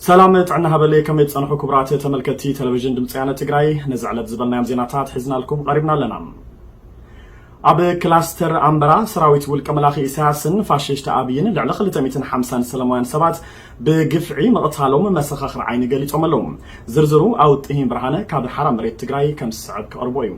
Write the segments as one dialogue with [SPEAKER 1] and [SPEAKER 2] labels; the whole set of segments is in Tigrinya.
[SPEAKER 1] ሰላም ጥዕና ሃበለይ ከመይ ትጸንሑ ክቡራት ተመልከቲ ቴሌቪዥን ድምፂ ያነ ትግራይ ነዚ ዕለት ዝበልናዮም ዜናታት ሒዝናልኩም ቀሪብና ኣለና ኣብ ክላስተር ኣምበራ ሰራዊት ውልቀ መላኺ ኢሳያስን ፋሽስት ኣብይን ልዕሊ 250 ሰለማውያን ሰባት ብግፍዒ ምቕታሎም መሰኻኽር ዓይኒ ገሊፆም ኣለዉ ዝርዝሩ ኣውጥሂን ብርሃነ ካብ ሓራ መሬት ትግራይ ከም ዝስዕብ ክቕርቦ እዩ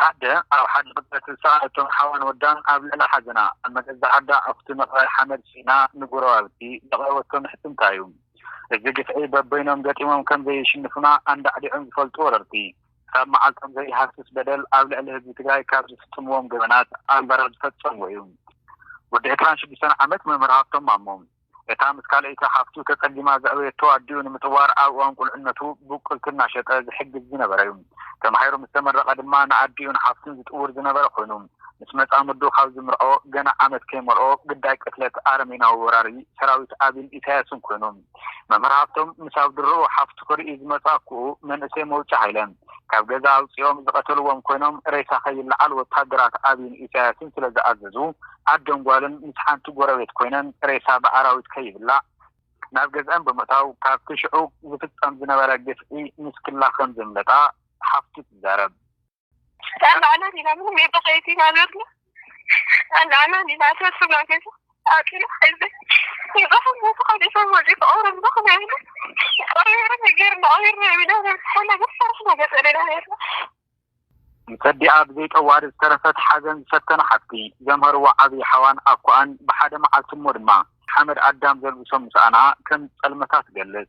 [SPEAKER 2] ኣደ
[SPEAKER 3] ኣብ ሓደ ቅጽበት ዝሰኣለቶም ሓዋን ወዳን ኣብ ልዕሊ ሓዘና ኣብ መገዛእ ዓዳ ኣኹቲ ምቕባር ሓመድ ስኢና ንጎረባብቲ ዘቕረበቶ ምሕጽንታ'ዩ። እዚ ግፍዒ በበይኖም ገጢሞም ከም ዘይሽንፉና ኣንዳዕዲዖም ዝፈልጡ ወረርቲ፣ ክሳብ መዓልቶም ዘይሃስስ በደል ኣብ ልዕሊ ህዝቢ ትግራይ ካብ ዝፍጽምዎም ገበናት ኣንበራ ዝፈጸምዎ'ዩ። ወዲ ዕስራን ሽዱሽተን ዓመት መምህር ሃብቶም ማሞ። እታ ምስ ካልኣይቲ ሓፍቱ ተጸጊማ ዘዕበየቶ ኣዲኡ ንምጥዋር ኣብ እዋን ቁልዕነቱ ብቁልቲ እናሸጠ ዝሕግዝ ዝነበረ'ዩ። ተማሂሩ ምስ ተመረቐ ድማ ንኣዲኡን ሓፍቱን ዝጥውር ዝነበረ ኮይኑ፣ ምስ መጻምዱ ካብ ዝምርዖ ገና ዓመት ከይመልኦ ግዳይ ቅትለት ኣረሜናዊ ወራሪ ሰራዊት ኣቢን ኢሳያስን ኮይኑ። መምህር ሃብቶም ምስ ኣብ ድሮኡ ሓፍቱ ክርኢ ዝመጽኣኩኡ መንእሰይ መውጫ ሃይለ። ካብ ገዛ ኣውጺኦም ዝቐተልዎም ኮይኖም ሬሳ ከይለዓል ወተሃደራት ኣብይን ኢሳያስን ስለ ዝኣዘዙ ኣደን ጓልን ምስ ሓንቲ ጎረቤት ኮይነን ሬሳ ብኣራዊት ከይብላዕ ናብ ገዝኣን ብምእታው ካብቲ ሽዑ ዝፍጸም ዝነበረ ግፍዒ ንስክላ ከም ዘምለጣ ሓፍቱ ትዛረብ። ንሰዲኣ ብዘይ ጠዋሪ ዝተረፈት ሓዘን ዝፈተና ሓፍቲ ዘምሀርዎ ዓብይ ሓዋን ኣኮኣን ብሓደ መዓልቲ እሞ ድማ ሓመድ ኣዳም ዘልብሶም ምስኣና ከም ዝፀልመታ ትገልፅ።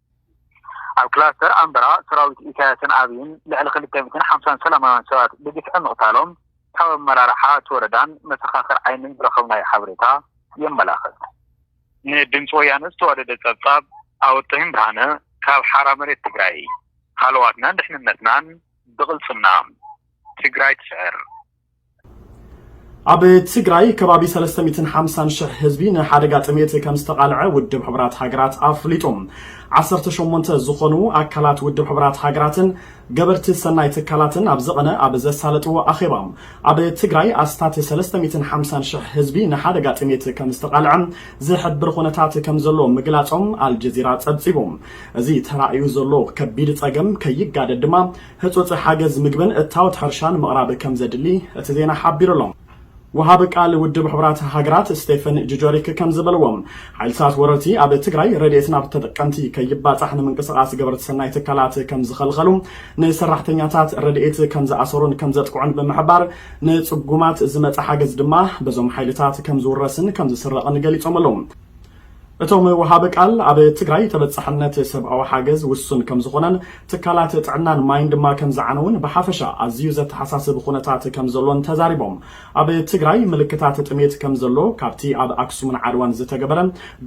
[SPEAKER 3] ኣብ ክላስተር ኣምበራ ሰራዊት ኢሳያስን ኣብይን ልዕሊ ክልተ ሚእትን ሓምሳን ሰላማውያን ሰባት ብግፍዒ ምቕታሎም ካብ ኣመራርሓ እቲ ወረዳን መሰኻኽር ዓይንን ዝረኸብናዮ ሓበሬታ የመላኽት። ንድምጺ ወያነ ዝተዋደደ ጸብጻብ ኣወጥህም ብርሃነ ካብ ሓራ መሬት ትግራይ። ሃለዋትናን ድሕንነትናን ብቕልጽምና! ትግራይ ትስዕር! ኣብ
[SPEAKER 1] ትግራይ ከባቢ ሰለስተ ሚእትን ሓምሳን ሽሕ ህዝቢ ንሓደጋ ጥሜት ከም ዝተቓልዐ ውድብ ሕቡራት ሃገራት ኣፍሊጡ። ዓሰርተ ሸሞንተ ዝኾኑ ኣካላት ውድብ ሕቡራት ሃገራትን ገበርቲ ሰናይ ትካላትን ኣብ ዝቐነ ኣብ ዘሳለጥዎ ኣኼባ፣ ኣብ ትግራይ ኣስታት ሰለስተ ሚእትን ሓምሳን ሽሕ ህዝቢ ንሓደጋ ጥሜት ከም ዝተቓልዐ ዝሕብር ኹነታት ከም ዘሎ ምግላፆም ኣልጀዚራ ፀብፂቡ። እዚ ተራእዩ ዘሎ ከቢድ ፀገም ከይጋደድ ድማ ህጹጽ ሓገዝ ምግብን እታወት ሕርሻን ምቕራብ ከምዘድሊ እቲ ዜና ሓቢሩ ኣሎ። ወሃቢ ቃል ውድብ ሕቡራት ሃገራት ስቴፈን ጁጀሪክ ከምዝበልዎ፣ ሓይልታት ወረርቲ ኣብ ትግራይ ረድኤት ናብ ተጠቀምቲ ከይባጻሕ ንምንቅስቓስ ገበርቲ ሰናይ ትካላት ከምዝኸልኸሉ፣ ንሰራሕተኛታት ረድኤት ከምዝኣሰሩን ከምዘጥቅዑን ብምሕባር፣ ንጽጉማት ዝመጸ ሓገዝ ድማ በዞም ሓይልታት ከምዝውረስን ከምዝስረቕን ገሊጾም ኣለዉ። እቶም ወሃቢ ቃል፣ ኣብ ትግራይ ተበፃሕነት ሰብኣዊ ሓገዝ ውሱን ከምዝኾነን ትካላት ጥዕናን ማይን ድማ ከምዝዓነዉን ብሓፈሻ ኣዝዩ ዘተሓሳስብ ኹነታት ከምዘሎን ተዛሪቦም። ኣብ ትግራይ ምልክታት ጥሜት ከምዘሎ ካብቲ ኣብ ኣክሱምን ዓድዋን ዝተገበረ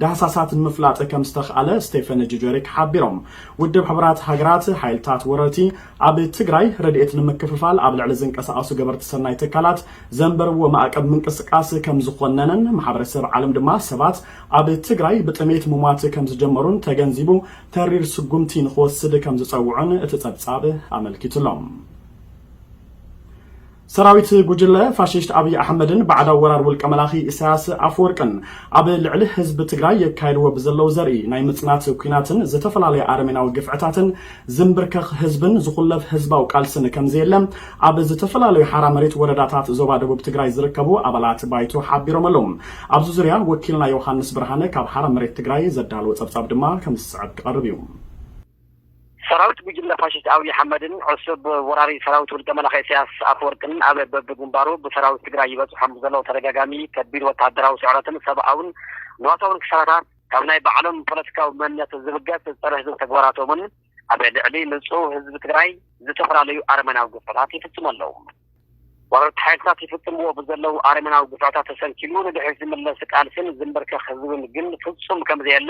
[SPEAKER 1] ዳህሳሳት ንምፍላጥ ከምዝተኽኣለ ስቴፈን ጁጀሪክ ሓቢሮም። ውድብ ሕቡራት ሃገራት፣ ሓይልታት ወረርቲ፣ ኣብ ትግራይ ረድኤት ንምክፍፋል ኣብ ልዕሊ ዝንቀሳቐሱ ገበርቲ ሰናይ ትካላት ዘንበርዎ ማእቀብ ምንቅስቃስ ከምዝኾነነን ማሕበረሰብ ዓለም ድማ ሰባት ኣብ ትግራይ ብጥሜት ምሟት ከምዝጀመሩን ተገንዚቡ ተሪር ስጉምቲ ንኽወስድ ከምዝፀውዑን እቲ ፀብፃብ ኣመልኪቱ'ሎ። ሰራዊት ጉጅለ ፋሽስት ኣብይ ኣሕመድን ባዕዳዊ ወራር ውልቀ መላኺ ኢሳያስ ኣፈወርቅን ኣብ ልዕሊ ህዝቢ ትግራይ የካይድዎ ብዘለዉ ዘርኢ ናይ ምፅናት ኲናትን ዝተፈላለየ ኣረሜናዊ ግፍዕታትን ዝምብርከኽ ህዝብን ዝኹለፍ ህዝባዊ ቃልስን ከምዘየለ ኣብ ዝተፈላለዩ ሓራ መሬት ወረዳታት ዞባ ደቡብ ትግራይ ዝርከቡ ኣባላት ባይቶ ሓቢሮም ኣለዉ። ኣብዚ ዙርያ ወኪልና ዮውሃንስ ብርሃነ ካብ ሓራ መሬት ትግራይ ዘዳለዎ ፀብፃብ ድማ ከምዝስዕብ ክቐርብ እዩ።
[SPEAKER 4] ሰራዊት ጉጅለ ፋሽስት ኣብይ ኣሕመድን ዕሱብ ወራሪ ሰራዊት ውልቀ መላኺ ኢሳያስ ኣፈወርቅን ኣብ በብግንባሩ ብሰራዊት ትግራይ ይበፅሖም ብዘለዉ ተደጋጋሚ ከቢድ ወተሃደራዊ ስዕረትን ሰብኣውን ንዋታውን ክሳራታት ካብ ናይ ባዕሎም ፖለቲካዊ መንነት ዝብገስ ፀረ ህዝቢ ተግባራቶምን ኣብ ልዕሊ ንፁህ ህዝቢ ትግራይ ዝተፈላለዩ ኣረመናዊ ግፍዕታት ይፍፅሙ ኣለዉ። ወረርቲ ሓይልታት ይፍፅምዎ ብዘለዉ ኣረመናዊ ግፍዕታት ተሰንኪሉ ንድሕሪት ዝምለስ ቃልሲን ዝምብርከኽ ህዝብን ግን ፍፁም ከምዘየለ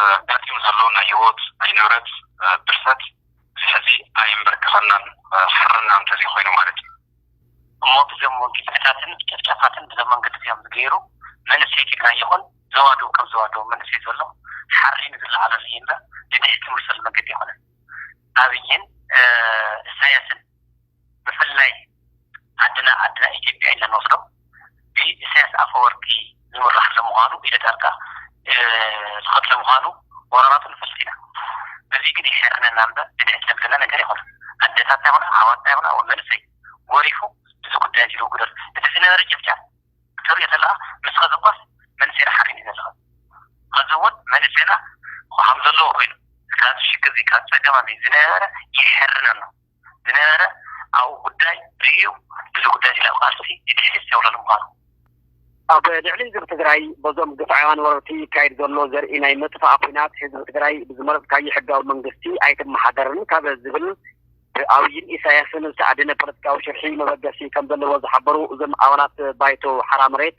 [SPEAKER 3] ኣጋጢሙ ዘሎ ናይ ህይወት ናይ ንብረት ብርሰት እዚ ሕዚ ኣየምበርከኸናን ሓርና እንተዘይኮይኑ ማለት እዩ እሞ ብዞም ግፍዕታትን ጨፍጫፋትን ብዞም መንገዲ እዚኦም ዝገይሩ መንእሰይ ትግራይ ይኹን ዞባ ዶብ ከም ዞባ ዶብ መንእሰይ ዝበሎ ሓሪኑ ዝለዓለሉ እዩ እምበር ንድሕት ዝምልሰሉ መንገዲ ኣይኮነን ኣብይን እሳያስን ብፍላይ ዓድና ዓድና ኢትዮጵያ ኢልና ንወስዶ ብኢሰያስ ኣፈወርቂ ዝምራሕ ስለምዃኑ ኢደ ጣልቃ ዝኸትል ምዃኑ ወራራቱ ንፈልጥ ኢና። በዚ ግን የሕርነና እምበር ብድዐት ዘብለና ነገር የኾነን። ኣደታትና ይኹና ኣሕዋትና ይኹና ወይ መንእሰይ ጎሪፉ እዚ ጉዳይ እዚ ልውግደሉ። እቲ ዝነበረ ጨፍጫፍ ክትርእዮ ተለኻ ምስ ኸዚ እኳስ መንእሰይና ሓሪኑ እዩ ዘሎ ኸዚ እውን መንእሰይና ኸምዘለዎ ኮይኑ ካብዚ ሽግር እዚ ካብ ፀገም እዚ ዝነበረ የሕርነና። ዝነበረ ኣብኡ ጉዳይ ርእዩ እዚ ጉዳይ እዚ ናብ ቃልሲ ይድህልል ዘብለሉ ምዃኑ። ኣብ ልዕሊ ህዝቢ ትግራይ በዞም ግፍዓውያን ወረርቲ ይካየድ ዘሎ ዘርኢ ናይ ምጥፋእ ኲናት ህዝቢ ትግራይ ብዝመረፅካዮ ሕጋዊ መንግስቲ ኣይትመሓደርን ካብ ዝብል ብኣብይን ኢሳያስን ዝተኣደነ ፖለቲካዊ ሽርሒ መበገሲ ከምዘለዎ ዝሓበሩ እዞም ኣባላት ባይቶ ሓራ መሬት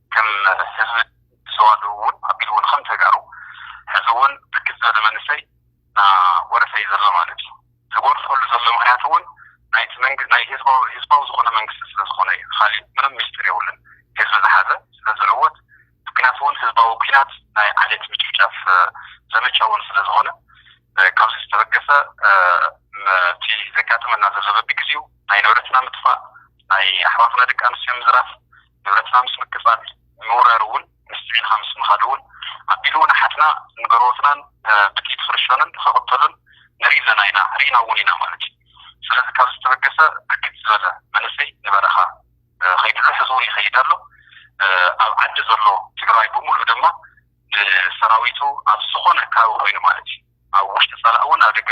[SPEAKER 3] ከም ህዝቢ ብሰዋስው እውን ኣቢሉ እውን ከም ተጋሩ ሕዚ እውን ብርክት ዝበለ መንእሰይ እናጎረፈ እዩ ዘሎ ማለት እዩ። ዝጎርፈሉ ዘሎ ምክንያት እውን ናይቲ መንግ ናይ ህዝባዊ ህዝባዊ ዝኾነ መንግስቲ ስለ ዝኾነ እዩ። ኻሊእ ምንም ሚስጢር የብሉን። ህዝቢ ዝሓዘ ስለ ዝዕወት እቲ ኩናት እውን ህዝባዊ ኩናት ናይ ዓሌት ምጭፍጫፍ ዘመቻ እውን ስለ ዝኾነ ካብዚ ዝተበገሰ እቲ ዘጋጥመና ዘሎ በቢግዚኡ ናይ ንብረትና ምጥፋእ ናይ ኣሕዋትና ደቂ ኣንስትዮ ምዝራፍ ንብረትና ምስ ምቅጻል ምውራር እውን ምስ ጽዒንካ ምስ ምካድ እውን ኣቢሉ እውን ኣሓትና ንገርዎትናን ብጥይት ክርሸኑን ክቅተሉን ንርኢ ኣለና ኢና ሪኢና እውን ኢና ማለት እዩ ስለዚ ካብ ዝተበገሰ ብርክት ዝበለ መንእሰይ ንበረካ ከይዱ ኣሎ ሕዚ እውን ይከይድ ኣሎ ኣብ ዓዲ ዘሎ ትግራዋይ ብሙሉእ ድማ ንሰራዊቱ ኣብ ዝኮነ ከባቢ ኮይኑ ማለት እዩ ኣብ ውሽጢ ጸላእ እውን ኣብ ደገ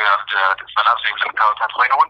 [SPEAKER 3] ጸላእ ኣብ ዘይብለን ከባቢታት ኮይኑ እውን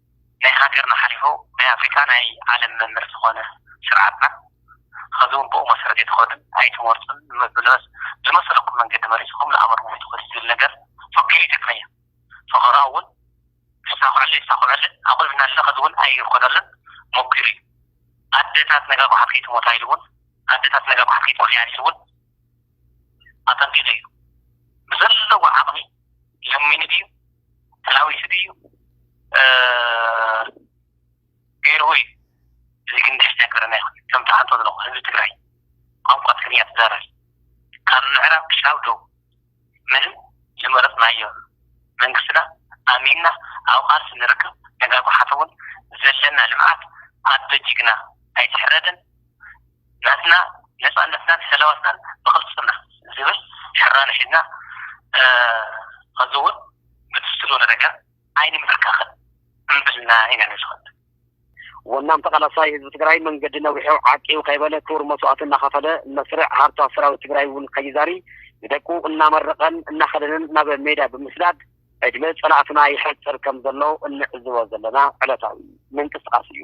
[SPEAKER 3] ናይ ሃገርና ሓሊፉ ናይ ኣፍሪቃ ናይ ዓለም መምህር ዝኾነ ስርዓትና ኸዚ ውን ብኡ መሰረት ኣይትኸዱን ኣይትመርጹን ብምብልበስ ዝመሰለኩም መንገዲ መሪጽኹም ንኣመርኩም ኣይትኸዱን ዝብል ነገር ፈኪሩ ይጠቅመያ ፈኸራ እውን ክሳኹዐሉ የሳኹዐለን ኣቑልብና ኣለና ኸዚ ውን ኣይኾነሉን ሞኪሩ እዩ ኣደታት ነጋ ጓሓት ከይትሞታ ኢሉ ውን ኣደታት ነጋ ጓሓት ከይትኾና ኢሉ ውን ኣተንቢቱ እዩ። ብዘለዎ ዓቕሚ ለሚኑ ድዩ ተላዊሱ ድዩ ገይርዎ እዩ እዚ ግን ደስ ዘብለና ኣይኮነን። ከም ትሓቶ ዘለኹ ህዝቢ ትግራይ ቋንቋ ትግርኛ ትዛረብ ካብ ምዕራብ ክሻብ ዶብ ምንም ዝመረፅናዮ መንግስትና ኣሚንና ኣብ ቓልሲ ንርከብ ነጋ ጎሓፍ እውን ዘለና ልምዓት ኣዶ ጅግና ኣይትሕረድን ናትና ነጻነትናን ሰላዋትናን ብቅልጽምና ዝብል ሕራነ ሒዝና ኸዚውን ብትስሎ ንረጋ ኣይንምብርከኽን እምብልና ኢና ንዝኸድ። ወናም
[SPEAKER 4] ተቃላሳይ ህዝቢ ትግራይ መንገዲ ነዊሑ ዓቂቡ ከይበለ ክቡር መስዋእቲ እናኸፈለ መስርዕ ሃርቷ ሰራዊት ትግራይ እውን ከይዛሪ ንደቁ እናመረቐን እናኸደንን ናብ ሜዳ ብምስዳድ ዕድመ ፀላእትና ይሐፅር ከምዘሎ እንዕዝቦ ዘለና ዕለታዊ ምንቅስቃስ እዩ።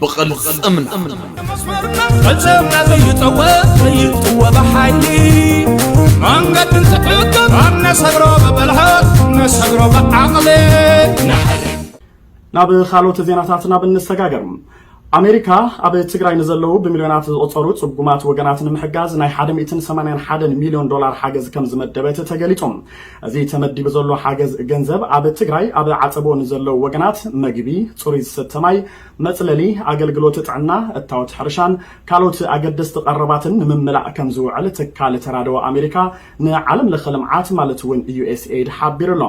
[SPEAKER 5] ብቕልፅምና
[SPEAKER 6] ፈፀምና ዘይፀወት ዘይጥወ ብሓይሊ መንገዲ እንትዕቅብ ኣብ ነሰግሮ ብብልሓት ነሰግሮ ብዓቕሊ
[SPEAKER 1] ናብ ካልኦት ዜናታት ናብ እንሰጋገር ኣሜሪካ ኣብ ትግራይ ንዘለዉ ብሚልዮናት ዝቆፀሩ ፅጉማት ወገናት ንምሕጋዝ ናይ 181 ሚልዮን ዶላር ሓገዝ ከም ዝመደበት ተገሊፁ እዚ ተመዲቡ ዘሎ ሓገዝ ገንዘብ ኣብ ትግራይ ኣብ ዓፀቦ ንዘለው ወገናት መግቢ፣ ፅሩይ ዝስተ ማይ፣ መፅለሊ፣ ኣገልግሎት ጥዕና፣ እታወት ሕርሻን ካልኦት ኣገደስቲ ቀረባትን ንምምላእ ከምዝውዕል ትካል ተራድኦ ኣሜሪካ ንዓለም ለኸ ልምዓት ማለት እውን ዩኤስኤይድ ሓቢሩ ኣሎ።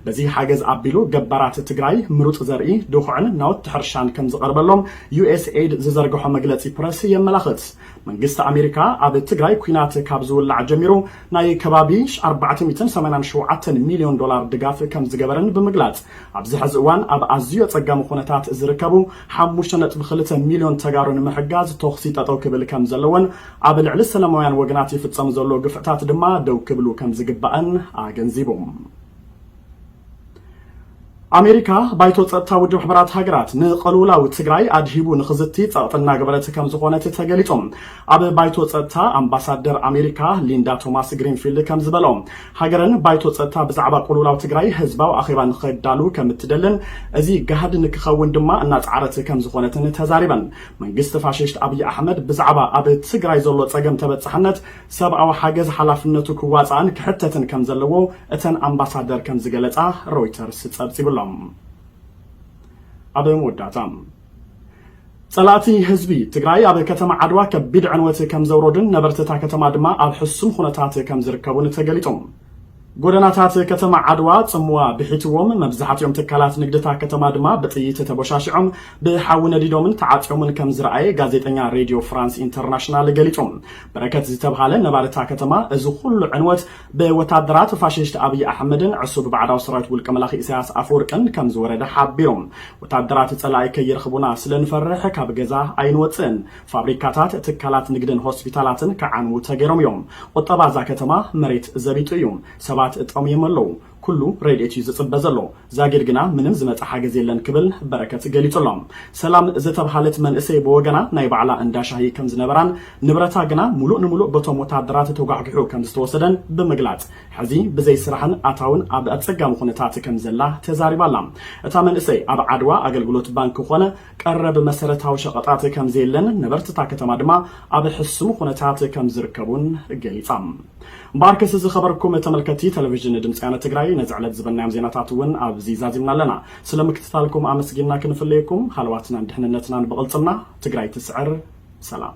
[SPEAKER 1] በዚ ሓገዝ ኣቢሉ ገባራት ትግራይ ምሩፅ ዘርኢ፣ ድኹዕን ናውቲ ሕርሻን ከምዝቐርበሎም ዩኤስኤይድ ዝዘርገሖ መግለፂ ፕረስ የመላኽት። መንግስቲ ኣሜሪካ ኣብ ትግራይ ኲናት ካብ ዝውላዕ ጀሚሩ ናይ ከባቢ ኣርባዕተ ሚእትን ሰማንያን ሸውዓተን ሚልዮን ዶላር ድጋፍ ከምዝገበረን ብምግላፅ፣ ኣብዚ ሐዚ እዋን ኣብ ኣዝዩ ኣፀጋሚ ኹነታት ዝርከቡ ሓሙሽተ ነጥቢ ክልተ ሚልዮን ተጋሩ ንምሕጋዝ ቶኽሲ ጠጠው ክብል ከምዘለዎን ኣብ ልዕሊ ሰለማውያን ወገናት ይፍፀም ዘሎ ግፍዕታት ድማ ደው ክብሉ ከምዝግባእን ኣገንዚቡ። ኣሜሪካ ባይቶ ጸጥታ ውድብ ሕቡራት ሃገራት ንቐልውላዊ ትግራይ ኣድሂቡ ንኽዝቲ ጸቕጢ እናገበረት ከም ዝኾነት ተገሊጹ። ኣብ ባይቶ ጸጥታ ኣምባሳደር ኣሜሪካ ሊንዳ ቶማስ ግሪንፊልድ ከም ዝበሎ ሃገረን ባይቶ ጸጥታ ብዛዕባ ቁልውላው ትግራይ ህዝባዊ ኣኼባ ንኸዳሉ ከም እትደልን እዚ ጋህዲ ንክኸውን ድማ እናጸዓረት ከም ዝኾነትን ተዛሪበን። መንግስቲ ፋሽስት ኣብይ ኣሕመድ ብዛዕባ ኣብ ትግራይ ዘሎ ጸገም ተበጻሕነት ሰብኣዊ ሓገዝ ሓላፍነቱ ክዋጻእን ክሕተትን ከም ዘለዎ እተን ኣምባሳደር ከም ዝገለጻ ሮይተርስ ጸብጺቡ ኣሎ። ኣብ መወዳእታ ጸላእቲ ህዝቢ ትግራይ ኣብ ከተማ ዓድዋ ከቢድ ዕንወት ከም ዘውረዱን ነበርቲ እታ ከተማ ድማ ኣብ ሕሱም ኹነታት ከም ዝርከቡን ተገሊጹ። ጎደናታት ከተማ ዓድዋ ጽምዋ ብሒትዎም፣ መብዛሕቲኦም ትካላት ንግዲ'ታ ከተማ ድማ ብጥይት ተቦሻሺዖም፣ ብሓዊ ነዲዶምን ተዓጽዮምን ከም ዝረኣየ ጋዜጠኛ ሬድዮ ፍራንስ ኢንተርናሽናል ገሊጹ። በረከት ዝተብሃለ ነባሪ'ታ ከተማ፣ እዚ ኹሉ ዕንወት ብወታደራት ፋሽስት ኣብይ ኣሕመድን ዕሱብ ባዕዳዊ ሰራዊት ውልቀ መላኺ ኢሳያስ ኣፈወርቅን ከም ዝወረደ ሓቢሩ። ወታደራት ጸላኢ ከይረኽቡና ስለ ንፈርሕ ካብ ገዛ ኣይንወጽእን። ፋብሪካታት፣ ትካላት ንግድን ሆስፒታላትን ክዓንዉ ተገይሮም እዮም። ቁጠባ እዛ ከተማ መሬት ዘቢጡ እዩ። ሰባት ጠምዮም ኣለዉ። ኩሉ ረድኤት እዩ ዝጽበ ዘሎ። ዛጊድ ግና ምንም ዝመጸ ሓገዝ የለን ክብል በረከት ገሊጹ ኣሎ። ሰላም ዝተብሃለት መንእሰይ ብወገና ናይ ባዕላ እንዳ ሻሂ ከም ዝነበራን ንብረታ ግና ሙሉእ ንሙሉእ በቶም ወተሃደራት ተጓሕጒሑ ከም ዝተወሰደን ብምግላጽ ሕዚ ብዘይ ስራሕን ኣታውን ኣብ ኣጸጋሚ ኩነታት ከም ዘላ ተዛሪባ ኣላ። እታ መንእሰይ ኣብ ዓድዋ ኣገልግሎት ባንኪ ኮነ ቀረብ መሰረታዊ ሸቐጣት ከምዘየለን ነበርቲ እታ ከተማ ድማ ኣብ ሕሱም ኹነታት ከምዝርከቡን ገሊፃ። እምበኣርከስ ዝኸበርኩም ተመልከትቲ ተለቪዥን ድምፂ ያነ ትግራይ ነዚ ዕለት ዝበልናዮም ዜናታት እውን ኣብዚ ዛዚምና ኣለና። ስለ ምክትታልኩም ኣመስጊንና ክንፍለየኩም ሃለዋትናን ድሕንነትናን ብቕልፅምና። ትግራይ ትስዕር! ሰላም!